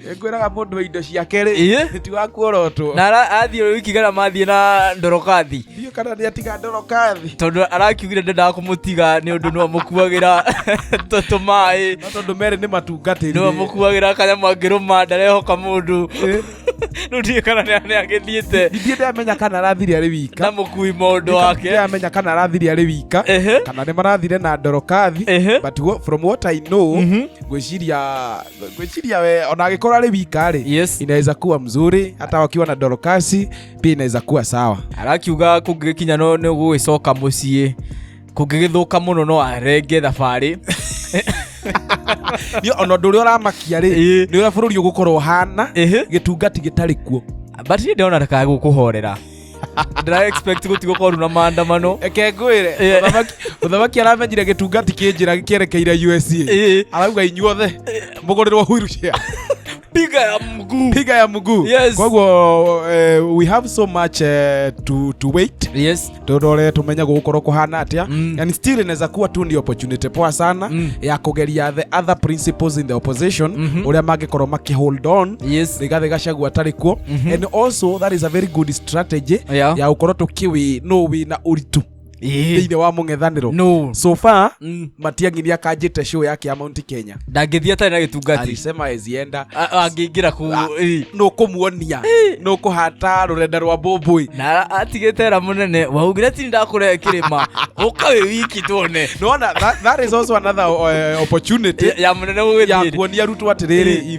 ngwĩraga mũndũ wa indo ciake-rĩ Ĩĩ. nĩ ti wa kuorotwo na ara- athiĩ ũrĩ wiki kana mathiĩ na ndorokathi ndiũ kana nĩ atiga ndorokathi tondũ arakiugire ndendaga kũmũtiga nĩ ũndũ nĩwe mũkuagĩra tũmaĩ no tondũ merĩ nĩ matungatĩri nĩwe mũkuagĩra kanyamũ angĩrũma ndarehoka mũndũ rĩu ndiĩ kana nĩ nĩ agĩthiĩte ndiĩ ndamenya kana arathire arĩ wika na mũkui maũndũ wake ndamenya kana arathire arĩ wika Ehe. kana nĩ marathire na ndorokathi Ehe. but wo- from what I know Mhm. ngwĩciria Ngwĩciria we ona angĩkorwo arĩ wika rĩ Yes. inaweza kuwa mzuri hata wakiwa na dorokasi pia inaweza kuwa sawa arakiuga kũngĩgĩkinya no nĩ gũgĩcoka mũciĩ kũngĩgĩthũka mũno no arenge thabarĩ Nĩ- ona ũndũ ũrĩa ũramakia rĩ Ĩĩ. nĩ ũrĩa bũrũri ũgũkorwo hana Ĩhĩ. gĩtungati gĩtarĩ kuo but nĩ ndĩrona ndakaga gũkũhorera ndĩra expect gũtigwo korwo na maandamano reke ngwĩre Eh. mũthamaki- mũthamaki aramenyire gĩtungati kĩ njĩra kĩerekeire usa Eh. arauga inyuothe mũgũrĩrwo huiru cia piga ya mguu piga ya mguu Yes. koguo eh, we have so much eh, to, to wait yes tondore tumenye gũgũkorwo kũhana atĩa Mm. and still inaweza kuwa tu ni opportunity poa sana Mm. ya kũgeria the other principles in the opposition Mhm. ũrĩa mangĩkorwo makĩhold on yes rigathi gacagua atarĩ kuo and also that is a very good strategy Yeah. ya gũkorwo tũkĩwĩ no wĩ na ũritũ Ĩĩ. thĩinĩ wa mũng'ethanĩro no so far Mm. matiang'i nĩ akanjĩte show yake ya mount kenya ndangĩthiĩ atarĩ na gĩtungati alisema azienda A- angĩingĩra ku Ah. ĩĩ. no kũmuonia no kũhata rũrenda rwa mbũmbũĩ na atigĩte ra mũnene waugire ti ndakũrehe kĩrĩma ũka wĩ wiki tuone nona that, that is also another uh, opportunity ya mũnene ya gũgĩthiĩ kuonia arutwo atĩrĩrĩ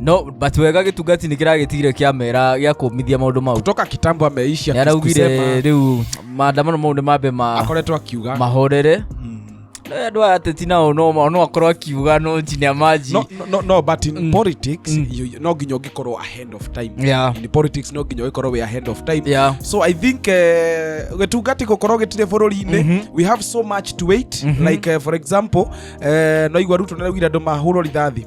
no but wega gĩtungati nĩ kĩragĩtigire kĩamera gĩa kũmithia maũndũ mau kutoka kitambo ameisha nĩ araugire kusema rĩu maandamano mau nĩ mambe ma akoretwo akiuga mahorere Mm. Eh, andũ aya ateti nao no no akorwo akiuga no chini ya maji no, no, no, no but in Mm. politics Mm. you- you- no nginya ũngĩkorwo ahead of time Yeah. in politics no nginya ũgĩkorwo wĩ ahead of time Yeah. so i think uh, gĩtungati gũkorwo gĩtirĩ bũrũri-inĩ Mhm. we have so much to wait Mhm. like uh, for example uh, no igua ruto naraugire andũ mahũrwo rithathi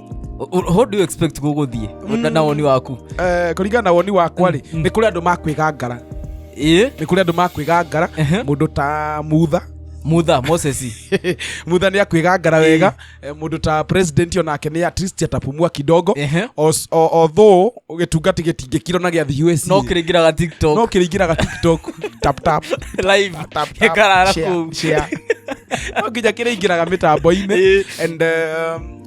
how do you expect gũgũthiĩ na- na woni waku Eh, kũringana na woni wakwa rĩ nĩ kũrĩ andũ makwĩgangara ĩ nĩ kũrĩ andũ makwĩgangara Ehe. mũndũ ta mutha mutha moses mutha nä akwägangara wega Eh, må ndå ta president onake nä at least atapumua kidogo Ehe. otho gä tungati gä tingä kiro na gä athi no kĩrĩngĩraga no tiktok kä rä ingä raga tiktok tap tap live tap, tap, gĩkarara share, kũu share. no nginya kä rä ingä raga mä tambo-inä Ĩ. and um,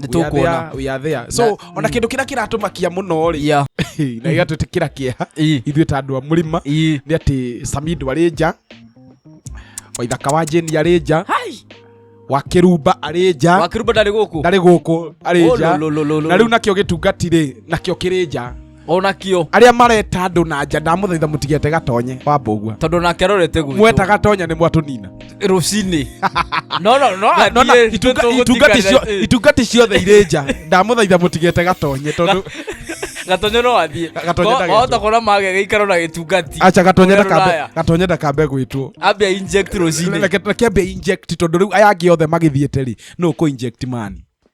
nĩ We are tũkuona there, we are there. so Na- ona kĩndũ kĩrĩa kĩratũmakia mũno rĩ Yeah. na gĩgatwĩtĩkĩra kĩeha Ii. ithuĩ ta andũ a mũrima Ii. nĩ atĩ samido arĩ nja waithaka wa jeni arĩ nja Hai. wa kĩrumba arĩ nja wakĩrumba ndarĩ gũkũ ndarĩ gũkũ arĩ nja Ololololo. na rĩu nakĩo gĩtungati-rĩ nakĩo kĩrĩ nja ona kĩo arĩa mareta andũ na nja ndamũthaitha mũtigete gatonye wa mbũgua tondũ nake arorete gwitũ mweta gatonya nĩ mwatũnina rũcinĩ no no no Na- no, na athiĩ, itunga- tũtũ- itungati gũtikana- cio- itungati ciothe irĩ nja ndamũthaitha mũtigete gatonye tondũ gatonyo no athiĩ Ga- gatonyo ndagethwo. wahota kuona mage gĩikaro na gĩtungati acha gatonye Kũrĩa ndakambe Rũraya. gatonye ndakambe gwĩtwo ambia inject rũcinĩ Reke- reke ambe inject tondũ rĩu aya angĩ othe magĩthiĩte rĩ no kũ inject mani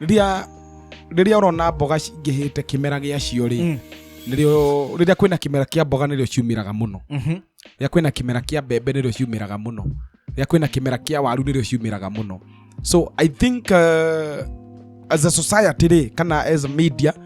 rĩrĩa rĩrĩa ũrona mboga cingĩhĩte kĩmera gĩacio rĩ Mm. nĩrĩo rĩrĩa kwĩna kĩmera kĩa mboga nĩrĩo ciumĩraga mũno Mhm. rĩrĩa kwĩna kĩmera kĩa mbembe nĩrĩo ciumĩraga mũno rĩrĩa kwĩna kĩmera kĩa waru nĩrĩo ciumĩraga mũno so i think uh, as a society rĩ kana as a media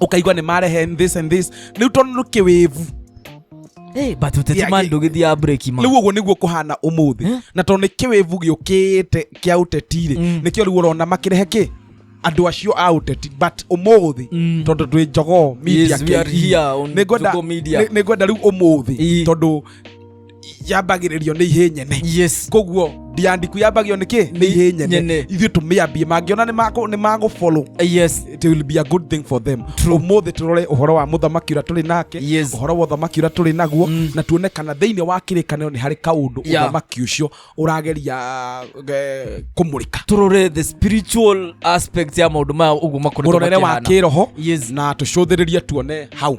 ukaigua ni marehe this and this riu tondu ni kiwivu Eh, but uteti Yeah, man yeah. ndugithia break man. riu uguo niguo kuhana umuthi Eh? na tondu ni kiwivu giukite kia uteti-ri Mm. nikio riu urona makirehe ki andu acio a uteti but umuthi Mm. tondu twi njogoo media Yes, we are KE. here on Nĩngwenda- Njogoo Media. nĩ- nĩngwenda riu umuthi Ii. tondu yambagĩrĩrio nĩ ihĩ nyene yes koguo ndiandiku yambagio nĩ kĩ nĩ ihĩ nyene Nyene. ithuĩ tũmĩambie mangĩona nĩ makũ- nĩ magũfollow yes it will be a good thing for them True. ũmũthĩ tũrore ũhoro wa mũthamaki ũrĩa tũrĩ nake Yes. ũhoro wa ũthamaki ũrĩa tũrĩ naguo Mm. na tuone kana thĩinĩ wa kĩrĩkanĩro nĩ harĩ kaũndũ Yeah. ũthamaki ũcio ũrageria eh, kũmũrĩka tũrore the spiritual aspect ya maũndũ maya ũguo makoretwo mũrorere wa makĩhana. kĩroho Yes. na tũcũthĩrĩrie tuone hau